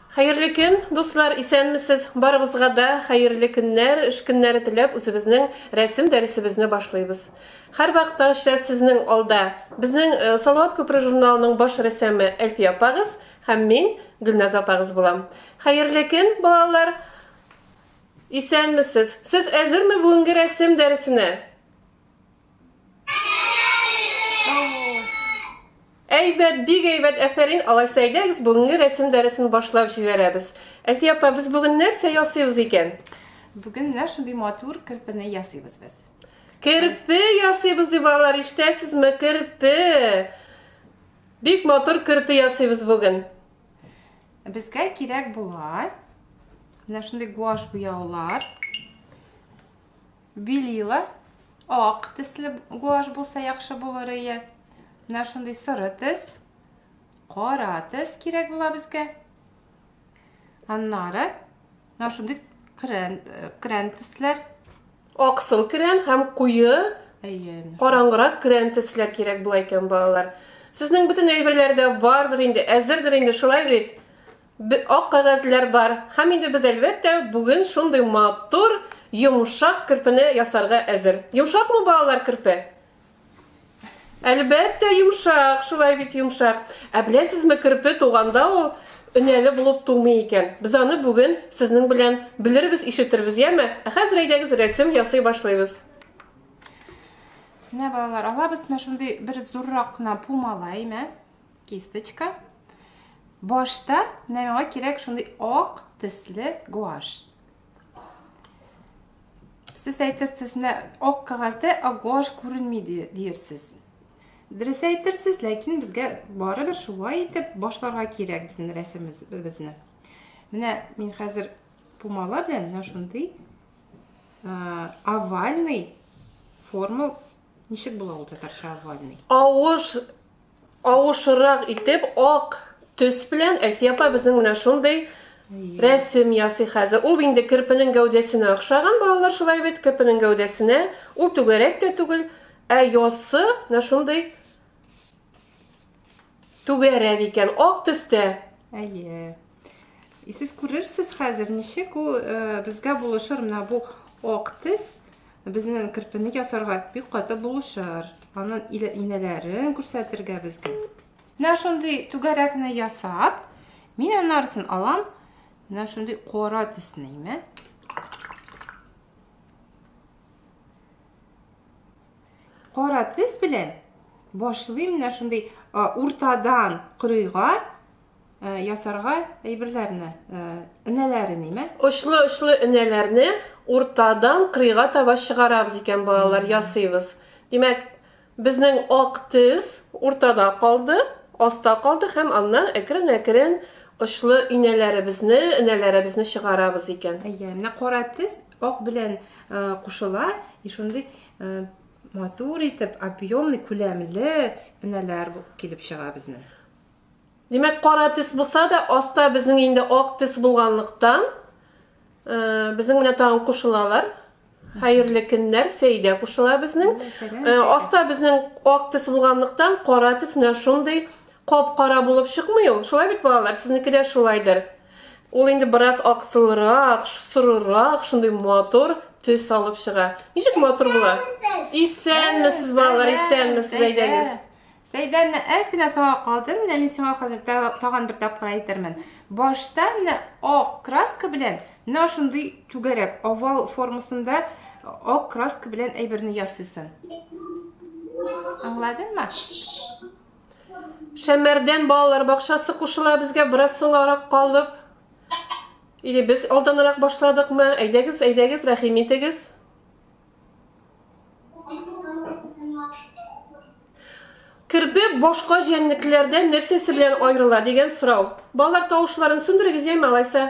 Хәерле көн, дуслар, исәнмесез! Барыбызга да хәерле көннәр, эш көннәре теләп, үзебезнең рәсем дәресебезне башлыйбыз. Һәрвакыттагыча сезнең алда безнең э, Салават күпре журналының баш рәссамы Әлфия апагыз һәм мин Гөлназ апагыз булам. Хәерле көн, балалар! Исәнмесез! Сез әзерме бүгенге рәсем дәресенә? Әйбәт, бик әйбәт, әфәрин. Алай сәйдәгез, бүгенге рәсем дәресен башлап җибәрәбез. Әлфи апа, без бүген нәрсә ясыйбыз икән? Бүген менә шундый матур керпене ясыйбыз без. Керпе ясыйбыз ди балалар, ишетәсезме? Керпе. Бик матур керпе ясыйбыз бүген. Безгә кирәк була менә шундый гуаш буяулар. Белила, ак тесле гуашь булса яхшы булырые. Менә шундый соры тес, кара тес кирәк була безгә. Аннары менә шундый крен, э, крен тесләр. Аксыл крен һәм куе Әйе. Караңгырак крен тесләр кирәк була икән балалар. Сезнең бөтен әйберләр дә бардыр инде, әзердер инде, шулай бит? Б ак кәгазьләр бар. Һәм инде без, әлбәттә, бүген шундый матур, йомшак керпене ясарга әзер. Йомшакмы, балалар, керпе? Әлбәттә, йомшак, шулай бит, йомшак. Ә беләсезме, керпе туганда ул өнәле булып тумый икән. Без аны бүген сезнең белән белербез, ишетербез, яме? Ә хәзер әйдәгез, рәсем ясый башлыйбыз. Менә, балалар, алабыз мә шундый бер зуррак кына пумала, имә. кисточка башта менә миңа кирәк шундый ак төсле гуаш сез әйтерсез менә ак кәгазьдә ак гуаш күренми диерсез дөрес әйтерсез ләкин безгә барыбер шулай итеп башларга кирәк безнең рәсемебезне менә мин хәзер пумала белән менә шундый овальный форма Ничек була ул татарча овальный? Авыш авышрак итеп ак төс белән Әлфия апа безнең менә шундый рәсем ясый хәзер. Ул инде керпенең гәүдәсенә охшаган балалар шулай бит, керпенең гәүдәсенә. Ул түгәрәк тә түгел, ә ясы менә шундый Түгәрәк икән, ак төстә. Әйе. И сез күрерсез хәзер, ничек ул э, безгә булышыр. Менә бу ак төс безнең кирпене ясарга бик каты булышыр. Аның инәләрен күрсәтергә безгә. Менә шундый түгәрәкне ясап, мин анарысын алам. Менә шундый кара төсне имә. Кара тез белән башлыйм менә шундый уртадан кырыйга ясарга әйберләрне, энәләре нимә? Очлы-очлы энәләрне уртадан кырыйга таба чыгарабыз икән, балалар, ясыйбыз. Димәк, безнең ак тез уртада калды, аста калды һәм аннан әкрен-әкрен очлы инәләребезне, энәләребезне чыгарабыз икән. Әйе, менә кара тез ак белән кушыла, и шундый матур итеп объемный күләмле энәләр килеп чыга безнең димәк кара төс булса да аста безнең инде ак төс булганлыктан безнең менә тагын кушылалар хәерле көннәр сәйдә кушыла безнең аста безнең ак төс булганлыктан кара төс менә шундый кап кара булып чыкмый ул шулай бит балалар сезнеке дә шулайдыр Ул инде бераз аксылрак, сорырак, шундый матур төс алып чыга. Ничек матур була? Исәнмесез, балалар, исәнмесез, әйдәгез. Сәйдән әз генә соңа калды, менә мин сиңа хәзер тагын бер тапкыр әйтермен. Башта менә ак краска белән, менә шундый түгәрәк, овал формасында ак краска белән әйберне ясыйсың. Аңладыңмы? Шәмәрдән балалар бакчасы кушыла безгә бераз соңарак калып. Или без алданрак башладыкмы? Әйдәгез, әйдәгез, рәхим итегез. Керпе башка җәнлекләрдән нәрсәсе белән аерыла дигән сорау. Балалар тавышларын сүндерегез яме алайса.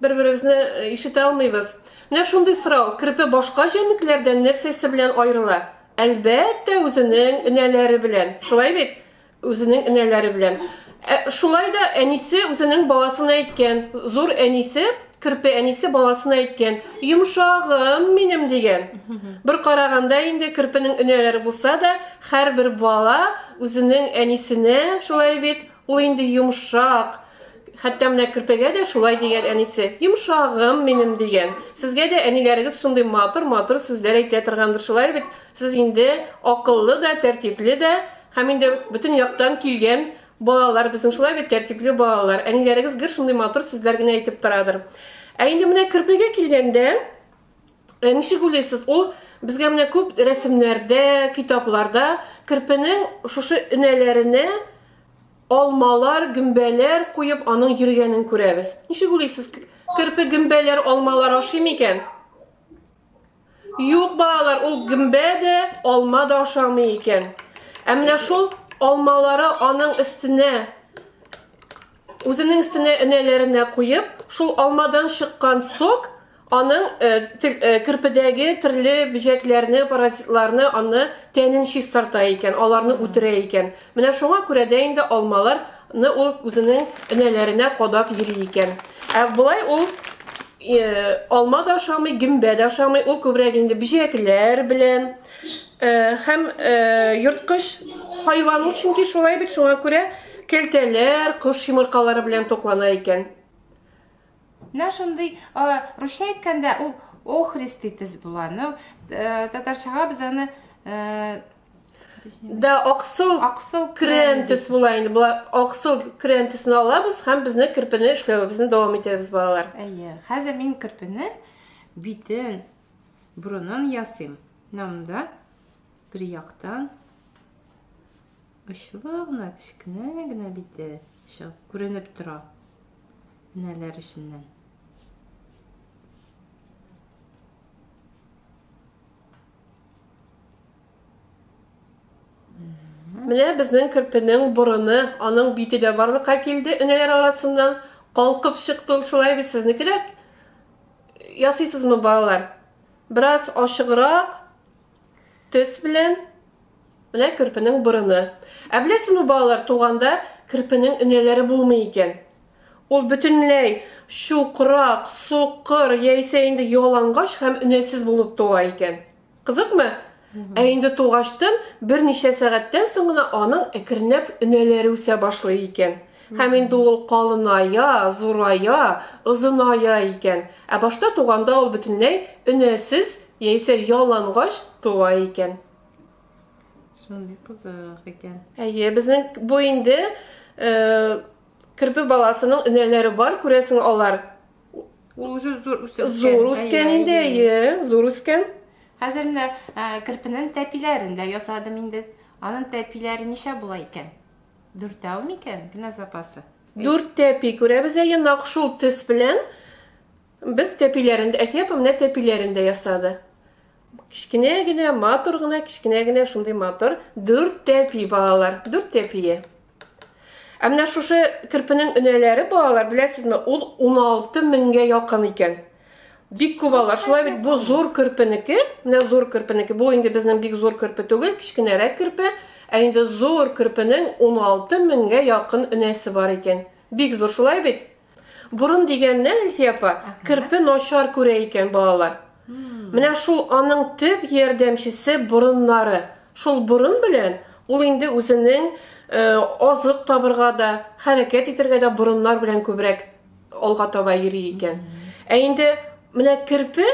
Бер-беребезне ишетә алмыйбыз. Менә шундый сорау, керпе башка җәнлекләрдән нәрсәсе белән аерыла? Әлбәттә, үзенең энәләре белән. Шулай бит? Үзенең энәләре белән. Ә шулай да әнисе үзенең баласына әйткән, зур әнисе, керпе әнисе баласына әйткән, йомшагым минем дигән. Бер караганда инде керпенең энәләре булса да, һәрбер бала үзенең әнисенә, шулай бит, Ул инде йомшак, хәтта менә керпегә дә шулай дигән әнисе. Йомшагым минем дигән. Сезгә дә әниләрегез шундый матур-матур сүзләр әйтә торгандыр шулай бит. Сез инде акыллы да, тәртипле дә һәм инде бөтен яктан килгән балалар безнең шулай бит, тәртипле балалар. Әниләрегез гел шундый матур сүзләр генә әйтеп торадыр. Ә инде менә керпегә килгәндә, Э, ничек уйлыйсыз, ул безгә менә күп рәсемнәрдә, китапларда керпенең шушы өнәләренә алмалар, гөмбәләр куеп, аның йөргәнен күрәбез. Ничек уйлыйсыз, керпе гөмбәләр, алмалар ашый микән? Юк, балалар, ул гөмбә дә, алма да ашамый икән. Ә менә шул алмалары аның өстенә Үзенең өстенә энәләренә куеп, шул алмадан чыккан сок аның э, э, керпедәге төрле бөҗәкләрне, паразитларны, аны тәнен чистарта икән, аларны үтерә икән. Менә шуңа күрә дә инде алмаларны ул үзенең энәләренә кадап йөри икән. Ә болай ул э, алма да ашамый, гөмбә дә ашамый, ул күбрәк инде бөҗәкләр белән, Һәм йорткыч хайван ул, чөнки шулай бит, шуңа күрә кәлтәләр, кош йомыркалары белән туклана икән. Менә шундый русча әйткәндә ул охрист дитез була. Ну, татарчага без аны Да, аксыл, аксыл крен төс була инде. Була аксыл крен төсен алабыз һәм безне кирпене эшләвебезне дәвам итәбез балалар. Әйе. Хәзер мин кирпене битен Борынын ясыйм. Менә монда бер яктан очлы гына кечкенә генә бите чыгып күренеп тора. Энәләр эченнән. Менә безнең керпенең борыны, аның бите дә барлыкка килде. Энәләр арасыннан калкып чыкты ул шулай бит сезнекеләр. Ясыйсызмы балалар? Бераз ачыграк төс белән менә керпенең борыны. Ә беләсезме балалар, туганда керпенең энәләре булмый икән. Ул бөтенләй чукрак, сукыр яисә инде ялангач һәм энәсез булып туа икән. Кызыкмы? Ә инде тугачтын берничә сәгатьтән соң гына аның әкренләп өнәләре үсә башлый икән. Һәм инде ул калыная, зурая, озыная икән. Ә башта туганда ул бөтенләй өнәсез яисә ялангач туа икән. Шундый кызык икән. Әйе, безнең бу инде э, керпе баласының өнәләре бар, күрәсең, алар Ул уже зур үскән. Зур үскән инде, әйе, зур үскән. Хәзер менә кирпенең тәпиләрен дә ясадым инде. Аның тәпиләре ничә була икән? Дүртәү микән? Генә запасы. Дүрт тәпи күрәбез әйе, нак шул төс белән без тәпиләрен дә, Әсия апа менә тәпиләрен дә ясады. Кечкенә генә, матур гына, кечкенә генә шундый матур. Дүрт тәпи балалар, дүрт тәпие. Ә менә шушы керпенең өнәләре балалар, беләсезме, ул 16 меңгә якын икән. Бик күп алар. Шулай бит бу зур керпенеке, менә зур керпенеке. Бу инде безнең бик зур керпе түгел, кечкенәрәк керпе. Ә инде зур керпенең 16 меңгә якын өнәсе бар икән. Бик зур, шулай бит? Борын дигәннән, Әлфия апа, керпе начар күрә икән балалар. Менә шул аның төп ярдәмчесе борыннары. Шул борын белән ул инде үзенең э, азык табырга да, хәрәкәт итәргә дә борыннар белән күбрәк алга таба йөри икән. Ә инде менә керпе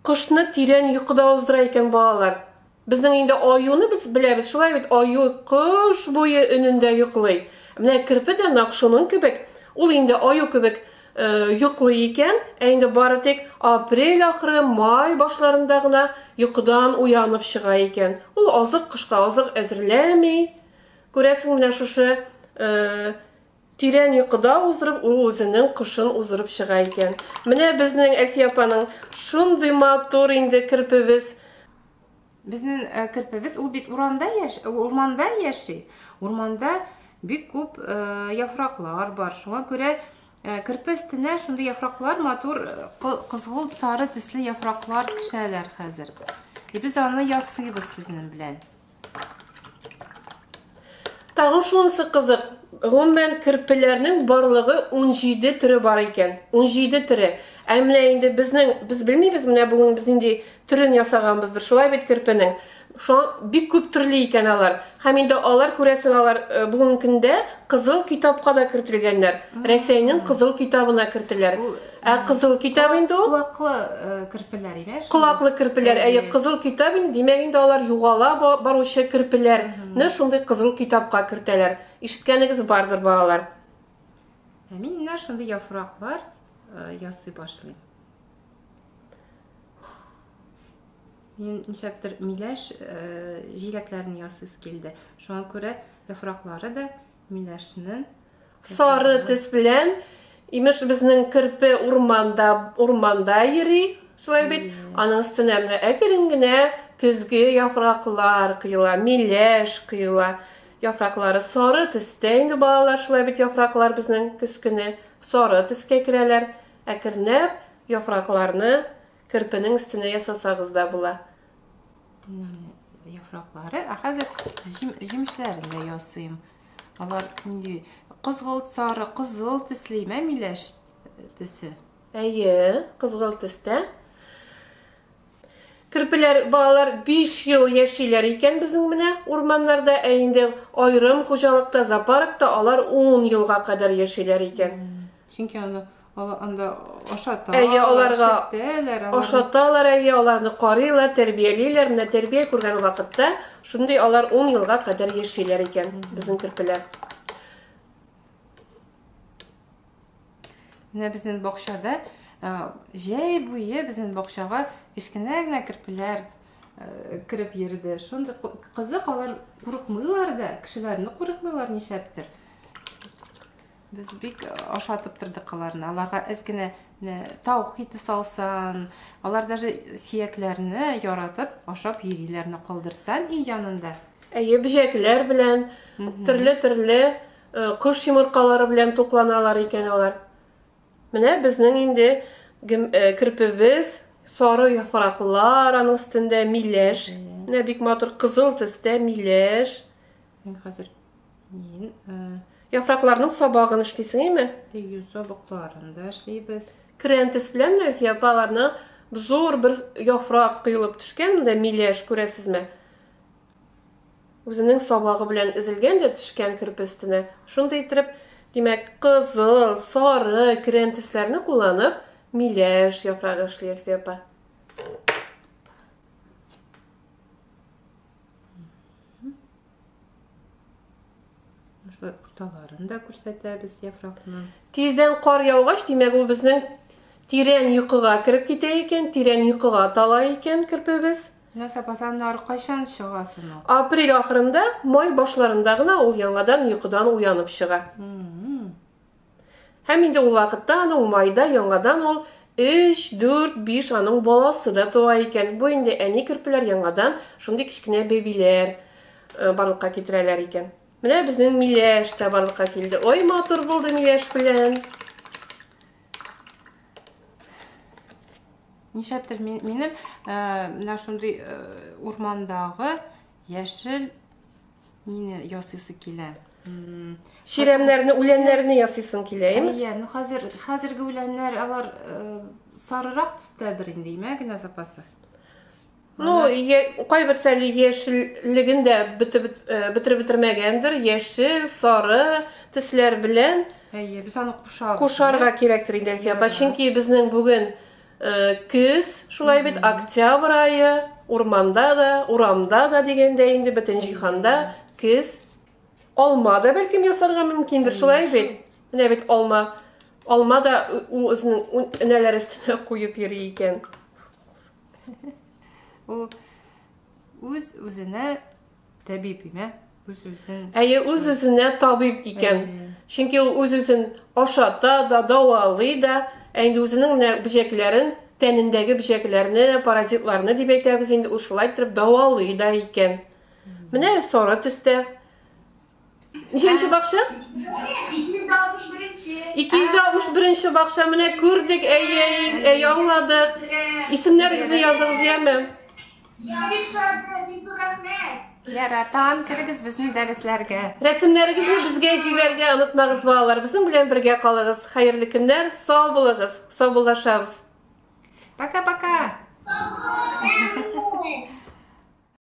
кошны тирән йокыда уздыра икән балалар. Безнең инде аюны без беләбез, шулай бит, аю кыш буе өнендә йоклый. Менә керпе дә нак шуның кебек, ул инде аю кебек э, йоклый икән, ә инде бары тик апрель ахыры, май башларында гына йокыдан уянып чыга икән. Ул азык кышка азык әзерләми. Күрәсең, менә шушы э, Тирән йокыда уздырып, ул үзенең кошын уздырып чыга икән. Менә безнең Әлфия апаның шундый матур инде керпебез. Безнең э, керпебез, ул бит урамда яш, э, урманда яши. Урманда бик күп э, яфраклар бар. Шуңа күрә керпе өстенә шундый яфраклар, матур кызгылт сары төсле яфраклар төшәләр хәзер. И без аны ясыйбыз сезнең белән. Тагын шунысы кызык, гомумән керпеләрнең барлыгы 17 төре бар икән. 17 төре. Ә менә инде безнең без белмибез, менә бүген без нинди төрен ясаганбыздыр. Шулай бит керпенең. Шуң бик күп төрле икән алар. Һәм инде алар күрәсең, алар э, бүгенге көндә кызыл китапка да кертелгәннәр. Рәсәйнең кызыл китабына кертеләр. Ә кызыл китап инде ул. Колаклы э, керпеләр иде. Колаклы керпеләр. Әйе, кызыл китап инде. Димәк инде алар югала баручы керпеләр. Нә шундый кызыл китапка кертәләр. Ишеткәнегез бардыр балалар. Ә мин менә шундый яфраклар э, ясый башлыйм. Мин ничәктер миләш э, җиләкләрен ясыйс килде. Шуңа күрә яфраклары да Миләшнең сары тез белән имеш безнең керпе урманда урманда йөри шулай бит аның өстенә менә әкрен генә көзге яфраклар коела миләш коела яфраклары сары төстә инде балалар шулай бит яфраклар безнең көз көне сары төскә керәләр әкренләп яфракларны керпенең өстенә ясасагыз да була яфраклары. Ә хәзер җимешләрен дә ясыйм. Алар нинди кызгылт сары, кызыл төсле имә миләш төсе. Әйе, кызгылт төстә. Керпеләр балалар 5 ел яшиләр икән безнең менә урманнарда, ә инде айрым хуҗалыкта, зоопаркта алар 10 елга кадәр яшиләр икән. Чөнки аны Алар анда ашата. Әйе, аларга ашаталар, әйе, аларны карыйлар, тәрбиялиләр. Менә тәрбия күргән вакытта шундый алар 10 елга кадәр яшиләр икән безнең керпеләр. Менә безнең бакчада җәй буе безнең бакчага кечкенә генә керпеләр кереп йөрде. Шундый кызык, алар курыкмыйлар да, кешеләрне курыкмыйлар ничәптер. Без бик ашатып тордык аларны. Аларга әз генә таук ите салсан, алар даже сиякләрне яратып ашап йөриләр, калдырсан өй янында. Әйе, бөҗәкләр белән, төрле-төрле кош йомыркалары белән тукланалар икән алар. Менә безнең инде кирпебез, сары яфраклар, аның өстендә миләш. Менә бик матур кызыл төстә миләш. Мин хәзер ин э, Яфракларның сабагын эшлисеңме? Ию сабакларын да эшлибез. Крентис белән Нәфия апаларны зур бер яфрак кыйлып төшкән, монда миләш күрәсезме? Үзенең сабагы белән изелгән дә төшкән кирпестенә. Шундый итеп, димәк, кызыл, сары крентисләрне кулланып, миләш яфрагы эшли Нәфия апа. Шулай урталарын да күрсәтәбез яфракны. Тиздән кар яугач, димәк, ул безнең тирән йокыга кереп китә икән, тирән йокыга тала икән кирпебез. Менә сапазаннар кайчан чыга соң? Апрель ахырында, май башларында гына ул яңадан йокыдан уянып чыга. Һәм инде ул вакытта аны умайда яңадан ул 3, 4, 5 аның баласы да туа икән. Бу инде әни керпеләр яңадан шундый кечкенә бәбиләр э, барлыкка китерәләр икән. Менә безнең миләш тә барлыкка килде. Ой, матур булды миләш белән. Нишәптер минем э, менә шундый э, урмандагы яшел Нине ясыйсы килә? Чирәмнәрне, үләннәрне ясыйсың килә, әйме? Әйе, ну хәзер хәзерге үләннәр алар э, сарырак төстәдер инде, имә генә запасы. Ну, кайбер сәле яшеллеген дә бетереп э, бетермәгәндер, яшел, сары төсләр белән. Әйе, без аны кушабыз. Кушарга кирәктер инде, Әлфия. Чөнки безнең бүген Э, көз шулай бит октябрь айы урманда да урамда да дигәндә инде бөтен җиһанда көз алма да бәлкем ясарга мөмкиндер шулай бит менә бит алма алма да ул үзенең энәләре өстенә куеп йөри икән ул үз үзенә Табиб имә, үз-үзен. Әйе, үз-үзенә табиб икән. Чөнки ул үз-үзен ашата да, дәвалый да, ә инде үзенең менә бөҗәкләрен, тәнендәге бөҗәкләрне, паразитларны дип әйтәбез инде, ул шулай итеп дәвалый да икән. Менә сары төстә Ничәнче бакча? 261-нче. 261-нче бакча менә күрдек, әйе, әйе, аңладык. Исемнәрегезне языгыз, яме. Бик шәп, бик зур рәхмәт. Ярар, тагын керегез безнең дәресләргә. Рәсемнәрегезне безгә җибәрергә онытмагыз, балалар. Безнең белән бергә калыгыз. Хәерле көннәр, сау булыгыз. Саубуллашабыз. Пока-пока.